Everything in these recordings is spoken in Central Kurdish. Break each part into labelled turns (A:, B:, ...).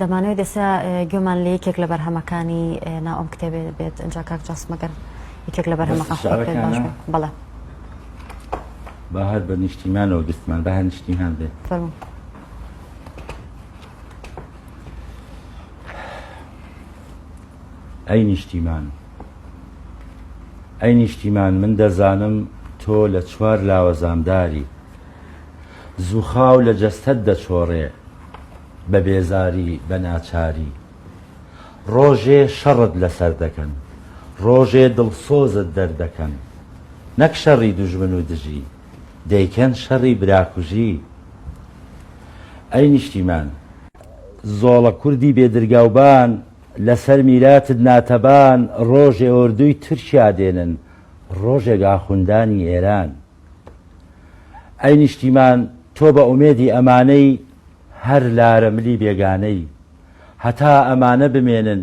A: دەمانەوێت ئێستا گوێمان لە یەکێک لە بەرهەمەکانی ناو ئەم کتێبێ بێت ئەجا کاک جاسم گەر یەکێک لە بەرهەمەکان خۆت پێت باش بێت. دەستتان بەڵێ.
B: با هەر بە نیشتیمانەوە دەستمان با هەر نیشتیمان بێت.
A: فەرموو.
B: ئەی نیشتیمان! ئەی نیشتیمان! من دەزانم تۆ لە چوار لاوە زامداری. زووخاو لە جەستەت دەچۆڕێ بە بێزاری بە ناچاری ڕۆژێ شەڕت لەسەر دەکەن ڕۆژێ دڵسۆزت دەردەکەن نەک شەڕی دوژمن و دژی دەیکەن شەڕی براکوژی ئەی نیشتیمان زۆڵە کوردی بێ درگاوبان لەسەر میراتت ناتەبان ڕۆژێ ئۆردووی تورکیا دێنن ڕۆژێک ئاخوندانی ئێران. ئەی نیشتیمان تۆ بە ئومێدی ئەمانەی هەر لارە ملی بێگانەی هەتا ئەمانە بمێنن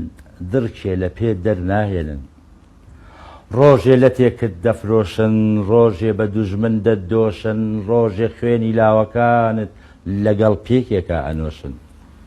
B: دڕکێ لە پێت دەر ناهێنن ڕۆژێ لەتێکت دەفرۆشن ڕۆژێ بە دوژمن دەتدۆشن ڕۆژێ خوێنی لاوەکانت لەگەڵ پێکێکا ئەنۆشن.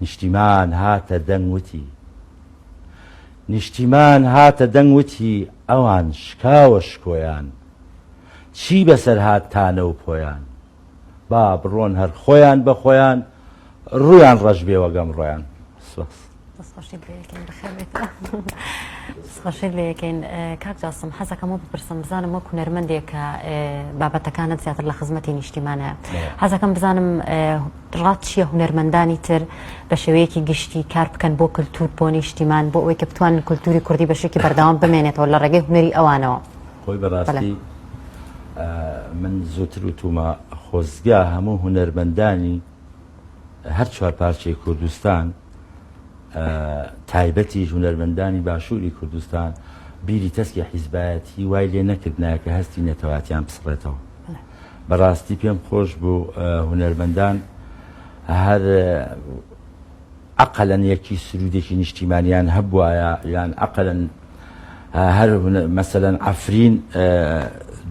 B: نیشتیمان هاتە دەنگ وتی نیشتیمان هاتە دەنگ وتی ئەوان شکاوە شکۆیان چی بەسەر هات تانە و پۆیان با بڕۆن هەر خۆیان بە خۆیان ڕوویان ڕەش بێ وەگەمڕۆیان سپاس. دەست خۆشیت لێ یەکەین بەخێر بێیتەوە
A: دەست خۆشیت لێ یەکەین کاک جاسم حەزەکەم وە بپرسم بزانم وەک هونەرمەندێک کە بابەتەکانت زیاتر لە خزمەتی نیشتیمانە حەزەکەم بزانم ڕات چییە هونەرمەندانی تر بە شێوەیەکی گشتی کار بکەن بۆ کللتور بۆ نیشتیمان بۆ ئەوەی کە بتوانن کللتوری کوردی بەشێکی بەردەوام بمێنێتەوە لە ڕێگەی هونەری ئەوانەوە خۆی بەڕاستی
B: من زووتر وتومە خۆزگە هەموو هونەرمەندانی هەر چوار پارچەی کوردستان تایبەتیش هونەرمەندانی باشووری کوردستان بیری تەسکی حیزبایەتی وای لێ نەکردنایە کە هەستی نەتەواتیان بسڕێتەوە بەڕاستی پێم خۆش بوو هونەرمەندان هەر ئەقەلەن یەکی سرودێکی نیشتیمانیان هەبوایە یان ئەقەلەن هەر مەسەلەن عەفرین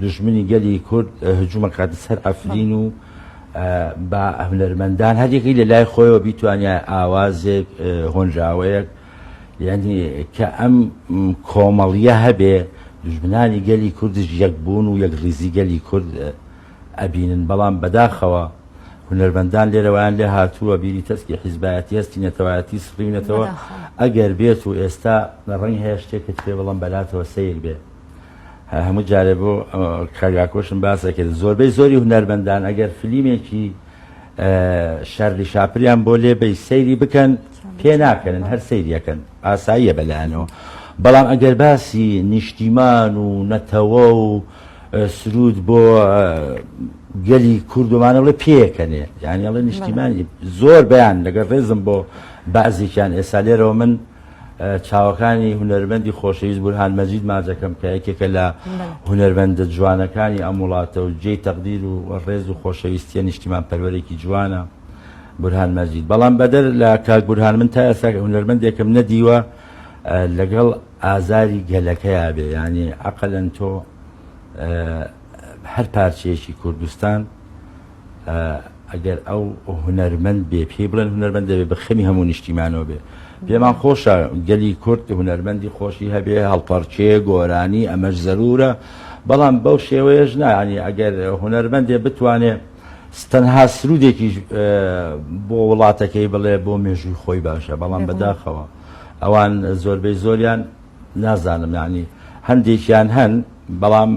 B: دوژمنی گەلی کورد هجومەکاتە سەر عەفرین و بە هونەرمەندان هەریەکەی لە لای خۆیەوە بیتوانیای ئاوازێک هۆنراوەیەک یعنی کە ئەم کۆمەڵیە هەبێ دژمنانی گەلی کوردش یەک بوون و یەک ڕیزی گەلی کورد ئەبینن بەڵام بەداخەوە هونەرمەندان لێرە وایان لێ هاتووە بیری تەسکی حیزبایەتی هەستی نەتەوایەتی سڕیونەتەوە ئەگەر بێت و ئێستا ڕەنگ هەیە شتێکت پێ بڵم بەلاتەوە سیر بێ هەموو جارێ بۆ کاگاکۆشم باسە کرد زۆربەی زۆری هونەرمەندان ئەگەر فلیمێکی شەرلی شاپریان بۆ لێبەی سەیری بکەن پێ ناکەن هەر سەیریەکەن ئاساییە بەلایەنەوە بەڵام ئەگەر باسی نیشتیمان و نەتەوە و سروود بۆ گەلی کورد و مانەڵێ پێکەنێ یانیڵێ نیشتیمانی زۆر بەیان لەگەر ڕێزم بۆ بەعزێکیان ئێستا لێرەوە من چاوەکانی هوەرمەندی خۆشەویست بورهان مەجید ماجەکەم کە یەکێکە لە هوەرمەندە جوانەکانی ئەم وڵاتە و جێی تەقدیر و ڕێز و خۆشەویستیە نیشتیمان پەروەرێکی جوانە بورهان مەجید بەڵام بەدەر لە کاک بورهان من تا ئێستا هوەرمەندێکم نەدیوە لەگەڵ ئازاری گەلەکەیا بێ یانی ئەقلەن تۆ هەر پارچەیەکی کوردستان ئەگەر ئەو هونەرمەند بێ پێی بڵێن هونەرمەند دەبێ بە خەمی هەموو نیشتیمانەوە بێ پێمان خۆشە گەلی کورد هونەرمەندی خۆشی هەبێ هەڵپەرچێ گۆرانی ئەمەش زەرورە بەڵام بەو شێوەیەش نانی ئەگەر هونەرمەندێ بتوانێ تەنها سرودێکیش بۆ وڵاتەکەی بڵێ بۆ مێژووی خۆی باشە بەڵام بەداخەوە ئەوان زۆربەی زۆریان نازانم یانی هەندێکیان هەن بەڵام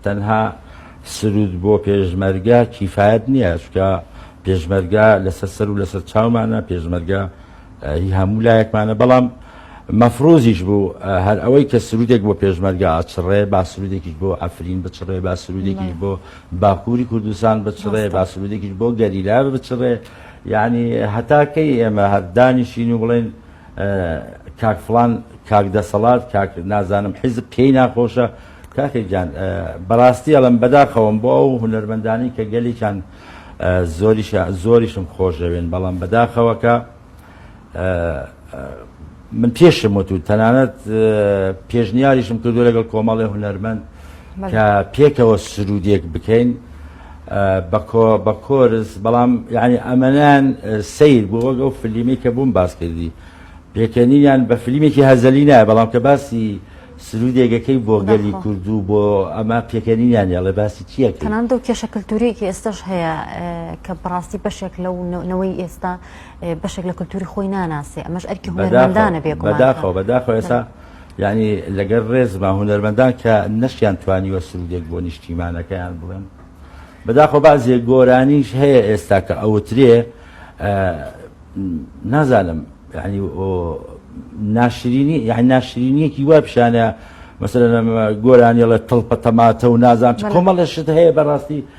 B: تەنها سرود بۆ پێشمەرگە کیفایەت نییە چکە پێشمەرگە لەسەر سەر و لەسەر چاومانە پێشمەرگە هی هەموو لایەکمانە بەڵام مەفرۆزیش بوو هەر ئەوەی کە سرودێک بۆ پێشمەرگە ئاچڕێ با سرودێکیش بۆ ئەفرین بچڕێ با سرودێکیش بۆ باکووری کوردستان بچڕێ با سرودێکیش بۆ گەریلا بچڕێ یەعنی هەتا کەی ئێمە هەر دانیشین و بڵێین کاک فڵان کاک دەسەڵات کاک نازانم حیزب پێی ناخۆشە کاکە گیان بەڕاستی ئەڵم بەداخەوەم بۆ ئەو هونەرمەندانی کە گەلیان زۆریشە زۆریشم خۆشەوێن بەڵام بەداخەوەکە من پێشم وت و تەنانەت پێشنیاریشم کردو لەگەڵ کۆمەڵی هونەرمەند کە پێکەوە سرودێک بکەین بەکۆ بە کۆرس بەڵام یعنی ئەمەنان سیر بوو وەگەڵ فلیمی کە بووم باس کردی پێکەنیان بە فلیمێکی هەزەلی نایە بەڵام کە باسی سرودێگەکەی بۆ گەلی کوردو بۆ ئەمە پێکەنیان یاڵێ باسی چیە تەنان دەو کێشە
A: کللتوریەکی ئێستش هەیە کە بڕاستی بەشێک لەو نەوەی ئێستا بەشێک لە کلتوری خۆی ناناسێ ئەمەش ئەرکی هونەرمەندانە بێ گومان بەداخەوە بەداخەوە ئێستا
B: یعنی لەگەر ڕێزما هونەرمەندان کە نەشیان توانیوە سرودێک بۆ نیشتیمانەکەیان بڵێن بەداخۆ بازێ گۆرانیش هەیە ئێستا کە ئەوترێ نازانم یعنی ناشرینی یعنی ناشرینیەکی وا پیشانە مەسەرەنە گۆرانیڵە تڵپە تەماتە و نازان کۆمەڵە شت هەیە بەڕاستی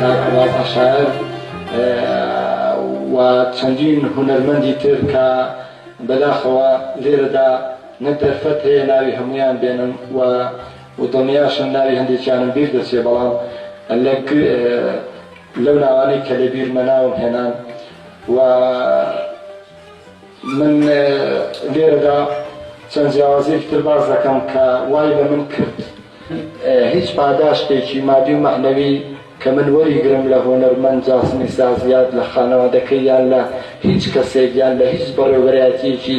B: کاک عەباس عەشایەر
C: و چەندین هونەرمەندی تر کە بەداخەوە لێرەدا نە دەرفەت هەیە ناوی هەموویان بێنم و دڵنیاشم ناوی هەندێکیانم بیر دەچێ بەڵام لەو ناوانەی کە لە بیرمە ناوم هێنان و من لێرەدا چەند جیاوازیەکی تر باس دەکەم کە وای لە من کرد هیچ پاداشتێکی مادی و مەعنەوی کە من وەریگرم لە هونەرمەند جاسمی ساز یاد لە خانەوادەکەی یان لە هیچ کەسێک یان لە هیچ بەڕێوبەرایەتیەکی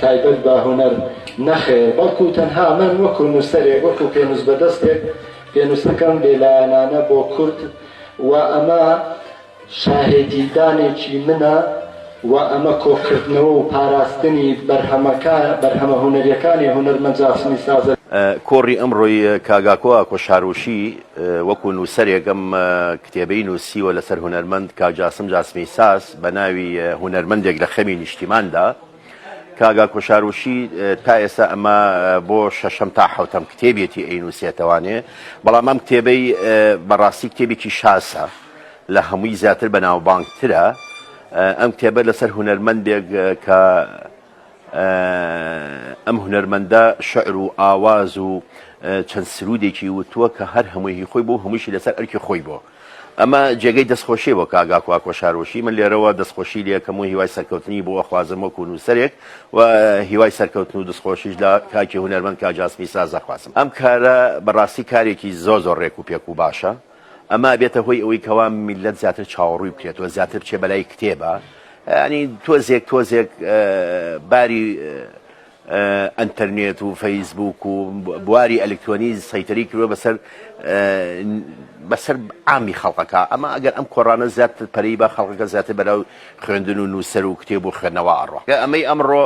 C: تایبەت بە هونەر نەخێر بەڵکو تەنها من وەکو نوسەرێک وەکو پێنوسبەدەستێک پێنوسەکەم بێلایەنانە بۆ کورد و ئەمە شاهێدیدانێکی منە و ئەمە کۆکردنەوە و پاراستنی بەرهەمە هونەریەکانی هونەرمەند جاسمی سازە. کۆڕی ئەمڕۆی
D: کاگاکۆ ئاکۆ شاروشی وەکو نووسەرێک ئەم کتێبەی نووسیوە لەسەر هونەرمەند کاک جاسم جاسمی ساز بە ناوی هونەرمەندێک لە خەمی نیشتیماندا کاک ئاکۆ شاروشی تا ئێستا ئەمە بۆ شەشەم تا حەوتەم کتێبێتی ئەینووسێتەوانێ بەڵام ئەم کتێبەی بەڕاستی کتێبێکی شازە. لە هەمووی زیاتر بەناوبانگترە ئەم کتێبە لەسەر هونەرمەندێک کە ئەم هونەرمەندە شعر و ئاواز و چەند سرودێکی وتووە کە هەر هەمووی خۆی بۆ هەمووشی لەسەر ئەرکی خۆی بۆ ئەمە جێگەی دەستخۆشی بۆ کاگاکووا کۆشارۆشی من لێرەوە دەستخۆشی لەکەم و هیوای سەرکەوتنی بۆ ئەخوازم وەکو نووسەرێک و هیوای سەرکەوتن و دەستخۆشیش لە کاکی هونەرمەند کاجاسمی سازەخوازم ئەم کارە بەڕاستی کارێکی زۆ زۆر ڕێک و پێک و باشە ئەمە ئەبێتە هۆی ئەوەی کەوا میللەت زیاتر چاوەڕووی بکرێت و زیاتر بچێ بەلای کتێبە ینی تۆزێک تۆزێک باری ئەتەرنێت و فەیسبوک و بواری ئەلکترۆنی سەیتەری کردوە بەسەر بەسەر ئامی خەڵقەکە ئەمە ئەگەر ئەم کۆڕانە زیات پەری بە خەڵقەکە زیاتر بەرە و خوێندن و نووسەر و کتێب و خوێندنەوە ئەڕۆ ئەمەی ئەمڕۆ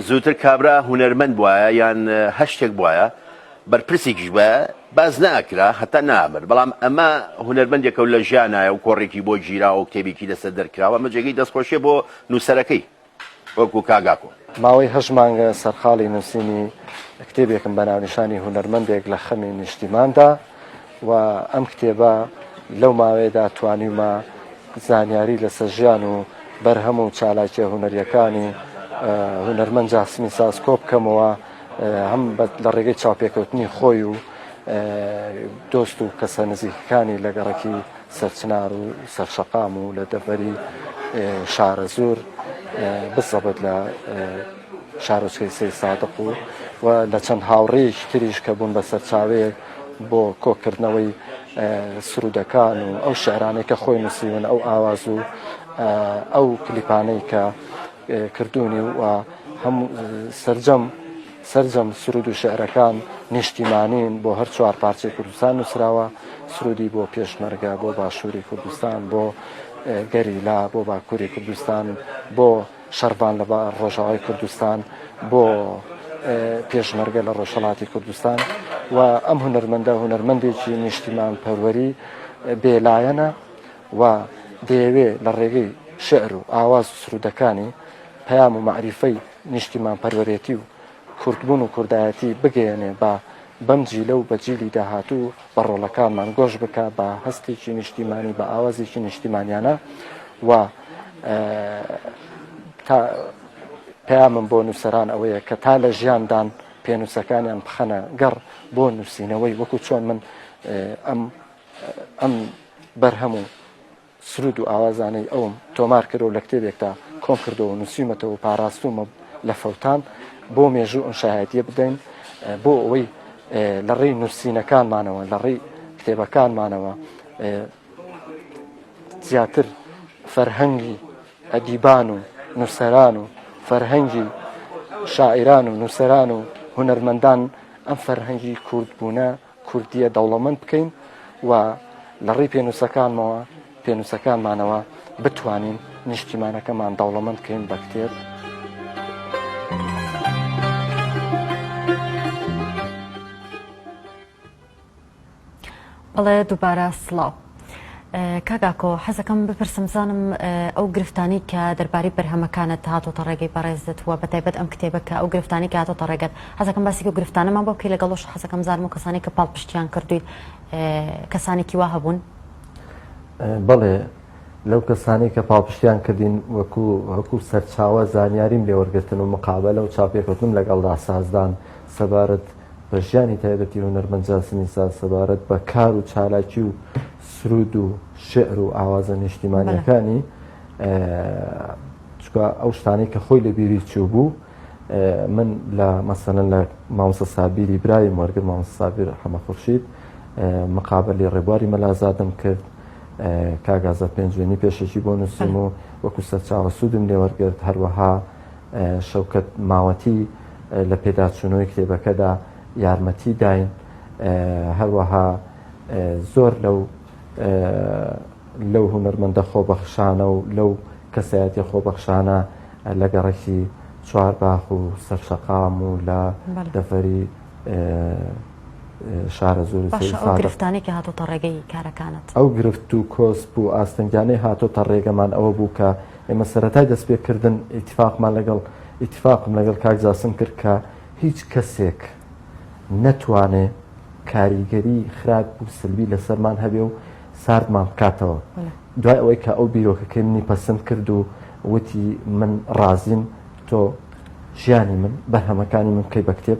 D: زووتر کابرا هوەرمەند وایە یان هەشتێک وایە بەرپرسێکیش بە باس ناکرا هەتا نامرد، بەڵام ئەمە هونەرمەندێکە و لە ژیانایە و کۆڕێکی بۆ گیراوە و کتێبێکی لەسەر دەرکراوە، ئەمە جێگەی دەستخۆشیە بۆ نووسەرەکەی وەکو کاک ئاکۆ. ماوەی هەشت مانگە
E: سەرقاڵی نووسینی کتێبێکم بە ناونیشانی هونەرمەندێک لە خەمی نیشتیماندا، و ئەم کتێبە لەو ماوەیەدا توانیومە زانیاری لەسەر ژیان و بەرهەم و چالاکیە هونەریەکانی هونەرمەند جاسمی ساز کۆبکەمەوە هەم لە ڕێگەی چاوپێکەوتنی خۆی و دۆست و کەسە نزیکەکانی لە گەڕەکی سەرچنار و سەرشەقام و لە دەڤەری شارەزور بزەبت لە شارۆچکەی سەید سادق و و لە چەند هاوڕێیەکی تریش کە بوون بە سەرچاوەیەک بۆ کۆکردنەوەی سرودەکان و ئەو شعرانەی کە خۆی نووسیون ئەو ئاواز و ئەو کلیپانەی کە کردوونی و هەموو سرجەم سرجەم سرود و شعرەکان نیشتیمانین بۆ هەر چوار پارچەی کوردستان نووسراوە سرودی بۆ پێشمەرگە بۆ باشووری کوردستان بۆ گەریلا بۆ باکووری کوردستان بۆ شەڕڤان لە ڕۆژاوای کوردستان بۆ پێشمەرگە لە ڕۆژهەڵاتی کوردستان و ئەم هونەرمەندە هونەرمەندێکی نیشتیمان پەروەری بێلایەنە و دەیەوێ لە ڕێگەی شعر و ئاواز و سرودەکانی پەیام و معریفەی نیشتیمان پەروەرێتی و کوردبوون و کوردایەتی بگەیەنێ با بەم جیلە و بە جیلی داهاتوو بە ڕۆڵەکانمان گۆش بکا بە هەستێکی نیشتیمانی بە ئاوازێکی نیشتیمانیانە و تا پەیامم بۆ نووسەران ئەوەیە کە تا لە ژیاندان پێنووسەکانیان بخەنە گەڕ بۆ نووسینەوەی وەکو چۆن من ئەم ئەم بەرهەم و سروود و ئاوازانەی ئەوم تۆمار کردوە و لە کتێبێکدا کۆم کردوە و نووسیومەتەوە و پاراستوومە لە فەوتان بۆ مێژوو ئەم شایەتیە بدەین بۆ ئەوەی لە ڕێی نووسینەکانمانەوە لە ڕێی کتێبەکانمانەوە زیاتر فەرهەنگی ئەدیبان و نووسەران و فەرهەنگی شاعران و نووسەران و هونەرمەندان ئەم فەرهەنگی کوردبوونە کوردییە دەوڵەمەند بکەین و لە ڕێی پێنووسەکانمەوە، پێنووسەکانمانەوە بتوانین نیشتیمانەکەمان دەوڵەمەند بکەین بە کتێب.
A: بەڵێ دووبارە سڵاو. کاک ئاکۆ حەزەکەم بپرسم بزانم ئەو گرفتانەی کە دەربارەی بەرهەمەکانت هاتۆتە ڕێگەی بەڕێزت وە بەتایبەت ئەم کتێبە کە ئەو گرفتانەی کە هاتۆتە ڕێگەت حەزەکەم باسێکی و گرفتانەمان بۆ بکەی لەگەڵۆش حەزەکەم بزانم و کەسانی کە پاڵپشتیان کردویت کەسانێکی وا هەبوون
F: بەڵێ لەو کەسانی کە پاڵپشتیان کردین وەکو وەکو سەرچاوە زانیاریم لێوەرگتن و مقابلە و چاپێکوتنم لەگەڵدا سازدان سەبارەت بە ژیانی تایبەتی هونەرمەند جاسمی ساز سەبارەت بە کار و چالاکی و سرود و شعر و ئاوازە نیشتیمانیەکانی چکە ئەو شتانەی کە خۆی لە بیری چوو بوو من لە مەسەن لە ماوسە سابیری برای وەرگر ماوس سابیر حەمە خورشید مقابلی ڕێبواری مەلازادم کرد کاگازە پێنجێنی پێشەکی بۆ نووسم و وەکو سەرچاوە سوودم لێوەرگرت هەروەها شەوکەت ماوەتی لە پێداچوونەوەی کتێبەکەدا یارمەتی داین، هەروەها زۆر لەو لەو هونەرمەندە خۆبەخشانە و لەو کەسایەتیە خۆبەخشانە لە گەڕەکی چوارباخ و سەرشەقام و لە دەڤەری شارە زۆر گرفتانی کە
A: هاتۆتە ڕێگەی کارەکانت ئەو گرفت و
F: کۆسپ و ئاستەنگانەی هاتۆتە ڕێگەمان ئەوە بوو کە ئێمە سەتای دەستپێکردن ئیتفاقمان لەگەڵ ئیتفاقم لەگەڵ کاک جاسم کرد کە هیچ کەسێک نەتوانێ کاریگەری خراپ و سلبی لەسەرمان هەبێ و ساردمان بکاتەوە دوای ئەوەی کە ئەو بیرۆکەکەی منی پەسند کرد و وتی من ڕازیم تۆ ژیانی من بەرهەمەکانی من بکەی بە کتێب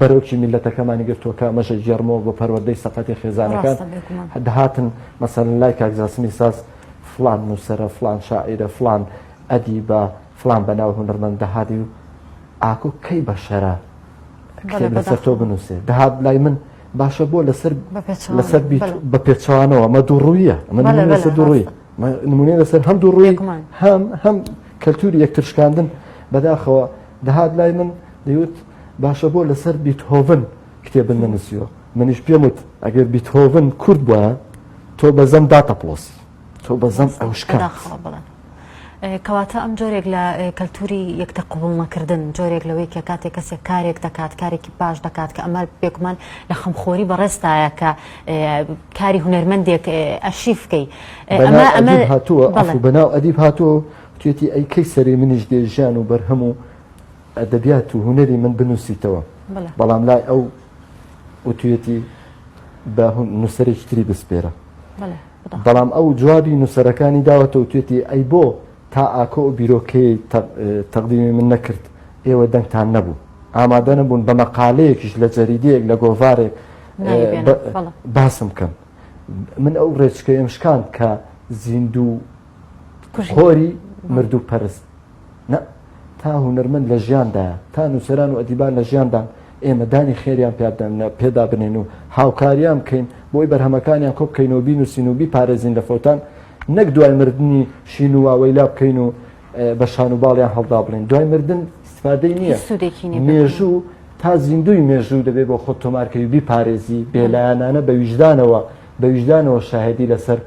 F: بەرۆکی میللەتەکەمانی گرتووەکە ئەمەشە گێڕمەوە بۆ پەروەردەی سەقەتی خێزانەکان دەهاتن مەسەلەن لای کاک جاسمی ساز فلان نووسرە فلان شاعیرە فلان ئەدی بە فلان بەناو هونەرمەند دەهادی و ئاکۆ کەی بەشەرە لەسەر تۆ بنووسێ دەهات لای من باشە بۆ لەسەر لەسەر بە پێچوانەوە مە دووڕویە من لەسەر دوڕوی نمونێ لەسەر هەم دوڕوی هەم هەم کەلتوری یەکترشکاندن بەداخەوە دەهات لای من دەیوت باشە بۆ لەسەر بیتهۆڤن کتێبن نەنووسیوە منیش پێم وت ئەگەر بیتهۆڤن کورد بووە تۆ بەزەم داتەپڵۆسی تۆ بەزەم ئەوشکە
A: کەواتە ئەم جۆرێک لە کەلتوری یەکتە قوبڵنەکردن جۆرێک لەوەی کە کاتێک کەسێک کارێک دەکات کارێکی باش دەکات کە ئەمە بێکمان لە خەمخۆری بەڕێستایە کە کاری هوەرمەندێک ئەشیف بکەی ئەمە هاتووە
F: بەناو ئەدیب هاتووە توێتی ئەی کەی سەری منیش دێژیان و بەرهەم و ئەدەبیات و هونەری من بنووسیتەوە، بەڵام لای ئەو وتویەتی بە نووسەرێکی تری بسپێرە. بەڵام ئەو جوابی نووسەرەکانی داوەتە و توێتی ئەی بۆ تا ئاکۆ و بیرۆکەی تەقدیمی من نەکرد ئێوە دەنگتان نەبوو. ئامادە نەبوون بە مەقالەیەکیش لە جەریدەیەک لە گۆڤارێک باسم بکەن. من ئەو ڕێچکەیەم شکاند کە زیندوو خۆری مردوو پەرست نە تا هونەرمەند لە ژیاندایە تا نووسەران و ئەدیبان لە ژیاندان ئێمە دانی خێریان پێدانە پێدا بنێن و هاوکاریان بکەین بۆی بەرهەمەکانیان کۆ بکەینەوە بین و سینوبی پارێزین لە فەوتان نەک دوای مردنی شین و واوەیلا بکەین و بە شان و باڵیان هەڵدا بڵێن دوای مردن استفادەی نییە سودێکی مێژوو تا زیندوی مێژوو دەبێت بۆ خۆ تۆمارکەوی بیپارێزی بێلایەنانە بە ویژدانەوە بە ویژدانەوە شاهێدی لەسەر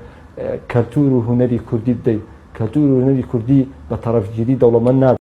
F: کەلتور و هونەری کوردی بدەیت، کەلتور و هونەری کوردی بە تەڕەفگیری دەوڵەمەند نابێت.